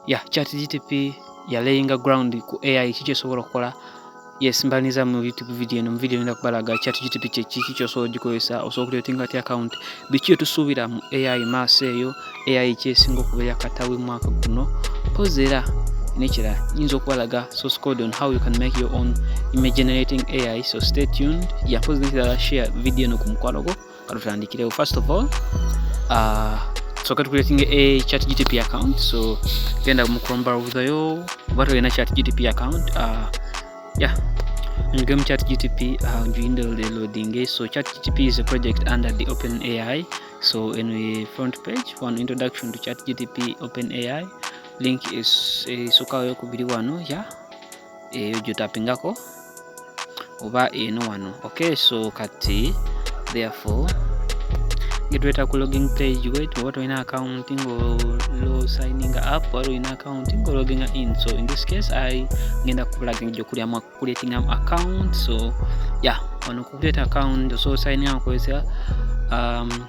ya ChatGTP ya laying ground ku AI kiki osobola okukola yes mbaniza mu youtube video eno mu video nenda kubalaga chat gtp kyekiki kyosobola ogikozesa osobola okuletinga ti account biki etusuubira mu ai maaso eyo ai kyesinga okubeera katawe mwaka guno pozi era nekirala nyinza okubalaga source code on how you can make your own image generating ai so stay tuned yapozi nekirala share video eno ku mukwano gwo katutandikirewo first of all uh, so kati creating a chat gtp account so genda mu chrome browser yo oba tolina chat gtp account uh, yeah njige mu chat gtp uh, njuyinde loading so chat gtp is a project under the open ai so in the front page one introduction to chat gtp open ai link is isokayo eh, kubiri wano yeah eyo gyotapingako oba eno wano okay so kati therefore getweta ku logging page wet oba tolina account ngo lo signing up wali olina account ngo logging in so in this case i ngenda kupulaginga gyokulyamu creating am account so yeah wano kukuleta account so signing up kwesa um,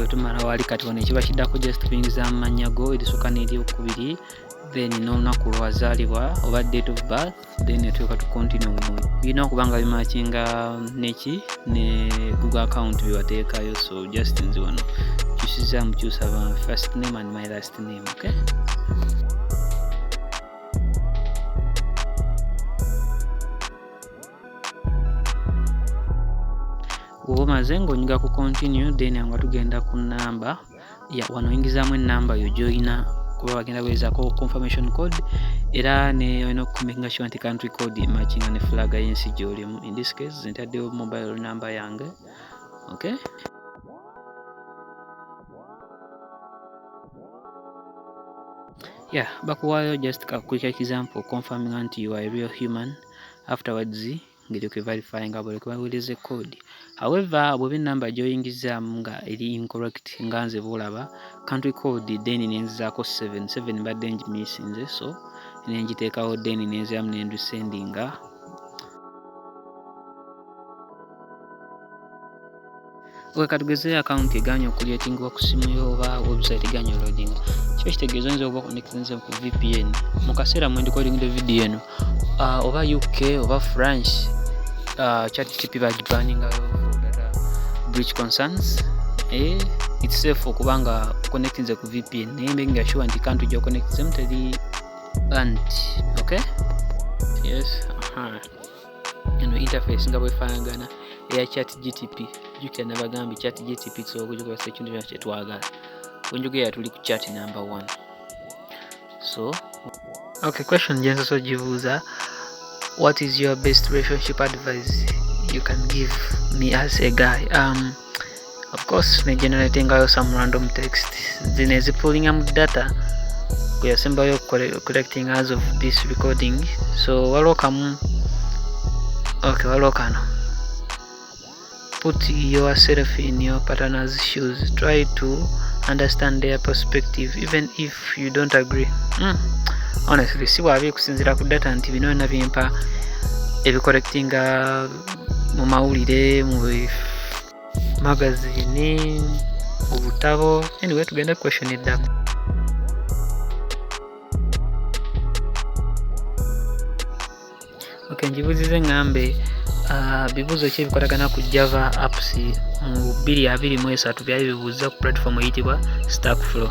wetumala wali kati wano ekiba kiddako just kuyingiza mu mannya go erisooka n'eryokubiri then n'olunaku lwazaalibwa oba date of birth then etuuka tu continue mu birina okuba nga bimakinga neki ne google account byewateekayo so just nzi wano kyusiza mukyusa ba first name and my last name okay oba omaze ng'onyiga ku continue then nga tugenda ku namba ya wano oyingizaamu enamba yo gyolina kuba bagenda bwezako confirmation code era neolina okukuminga sure nti country code emakinga ne fulaga yensi gyolimu in this case ntaddewo mobile number yange okay yeah bakuwaayo just ka quick example confirming nti you are a real human afterwards ngeri kwe verifying abo leke baweereze code however bweba enamba gyoyingizaamu nga eri incorrect nga nze boolaba country code then nenzizaako 77 mbadde ngimisinze so nengiteekawo then nenziramu nendusendinga Owe kati gezeyo akawunti eganya okuleetingibwa ku simu yo oba website eganya loading kiba kitegeeza oyinza okuba connectinze ku vpn mu kaseera mwe ndikolingide vidiyo eno uh, oba uk oba france uh, chat gtp bagibaningayo breach concerns eh, it's safe okuba nga connectinze ku vpn naye mbe nga sure nti kantu gyo connectinzemu teri band okay yes uh -huh. eno interface nga bwefanagana eya chat gtp jukira nabagambye chat gtp tusobola okugikozesa ekintu kyona kyetwagala wenjogera tuli ku chat number one so okay question gyensoso gibuuza what is your best relationship advice you can give me as a guy um, of course ne generatingayo some random text zino ezipulinga mu data kweyasembayo collecting as of this recording so waliwo kamu okay waliwo kano put yourself in your partner's shoes try to understand their perspective even if you don't agree mm. honestly si bwabi kusinzira ku data nti bino byona bimpa ebicollectinga mu mawulire mu magazini obutabo anyway tugende question eddako okay njibuzize ngambe uh, bibuzo ki ebikwatagana ku java apps mu 223 byali bibuuza ku platform eyitibwa stackflow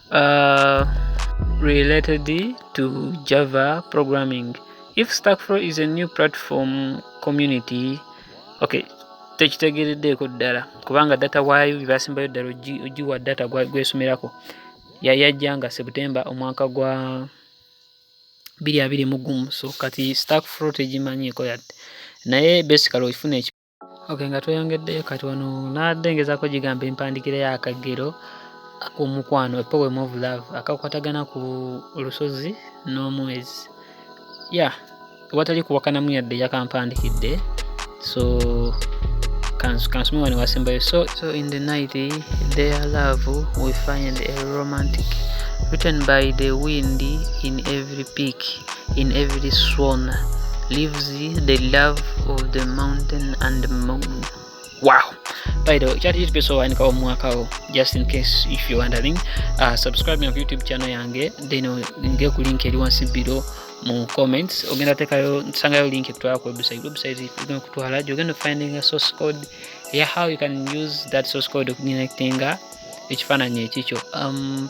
uh, related to java programming if stackflow is a new platform community okay tekitegereddeeko ddala kubanga data waayo byebasimbayo ddala ogiwa data gwesomerako yayajja nga september omwaka gwa biri abiri mu gumu so kati stackflow tegimanyiiko yadde naye basically okifuna Okay, nga tweyongeddeyo kati wano nadde ngezako gigamba empandikira ya akagero ak'omukwano a poem of love akakwatagana ku lusozi n'omwezi ya yeah. watali kuwakanamu yadde yakampandikidde so kansome wano wasembayo so, so in the night their love we find a romantic written by the wind in every peak in every swan lives the love of the mountain and moon wow by the way kyati kitupeesa owanika omwakawo just in case if you're wondering uh, subscribe na youtube channel yange then nge ku link eri wansi below mu comments ogenda tekayo nsangayo link ekutwala ku website website igenda kutwala gyogenda finding a source code yeah how you can use that source code okunyinectinga ekifaananyi ekikyo um,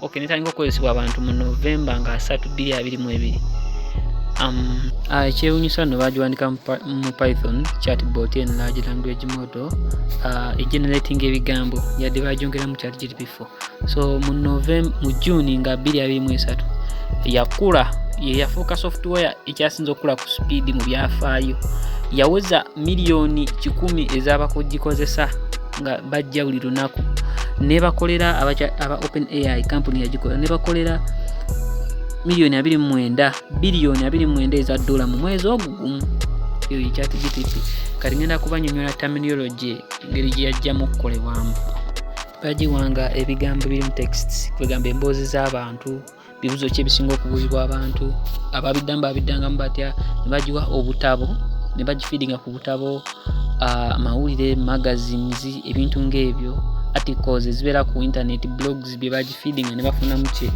ok netandika okukozesebwa abantu mu novemba nga 3222 um, ah, ekyewunyisa no bagiwandika mu python chatbot en large language model ah, egenerating ebigambo yadde bagyongera mu chat gdp4 so mu novemb mu june nga 223 yakula yeyafuuka software ekyasinza okukula ku speed mu byafaayo yaweza miliyoni kikumi ezabakuggikozesa nga bajja buli lunaku nebakolera aba open ai kampuni yagikola nebakolera miliyoni 29 biliyoni 29 eza dola mu mwezi ogwo gumu eyo yekyati gtp kati ngenda kubanyonyola terminology engeri gyeyajjamu okukolebwamu bagiwanga ebigambo biri mu text kwegamba emboozi z'abantu bibuzo ki ebisinga okubuuzibwa abantu ababiddamu babiddangamu batya ne bagiwa obutabo ne bagifiidinga ku butabo amawulire magazines ebintu ng'ebyo articles ezibeera ku internet blogs bye bagifiidinga ne bafunamu kye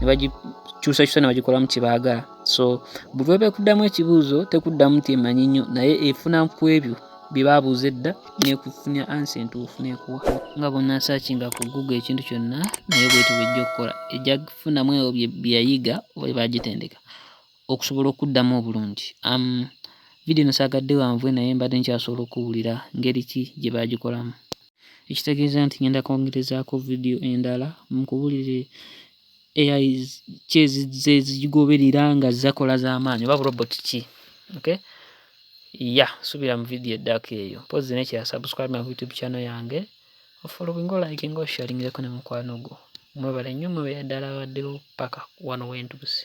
ne bagikyusakyusa ne bagikolamu kye baagala so buli webekuddamu ekibuuzo tekuddamu nti emanyi nnyo naye efuna ku ebyo bye baabuuza edda n'ekufunira ansa entuufu n'ekuwa nga bw'onaasakinga ku google ekintu kyonna nayo bwetyo bw'ejja okukola ejja kufunamu ebyo bye yayiga oba bye baagitendeka okusobola okuddamu obulungi vidiyo eno saagadde wanvuwe naye mbadde nkyasobola okuwulira ngeri ki gye baagikolamu ekitegeeza nti ngenda kwongerezaako vidiyo endala mukubuulire ai ki ezizze ezigigoberera nga azze akola za maanyi oba bu robot ki okay yeah subira mu video eddako eyo mpozi nekya subscribe my youtube channel yange ofolowinga olayikinga osharingireko ne mukwano gwo mwebale nnyo mwe beyaddala abaddewo paka wano wentuuse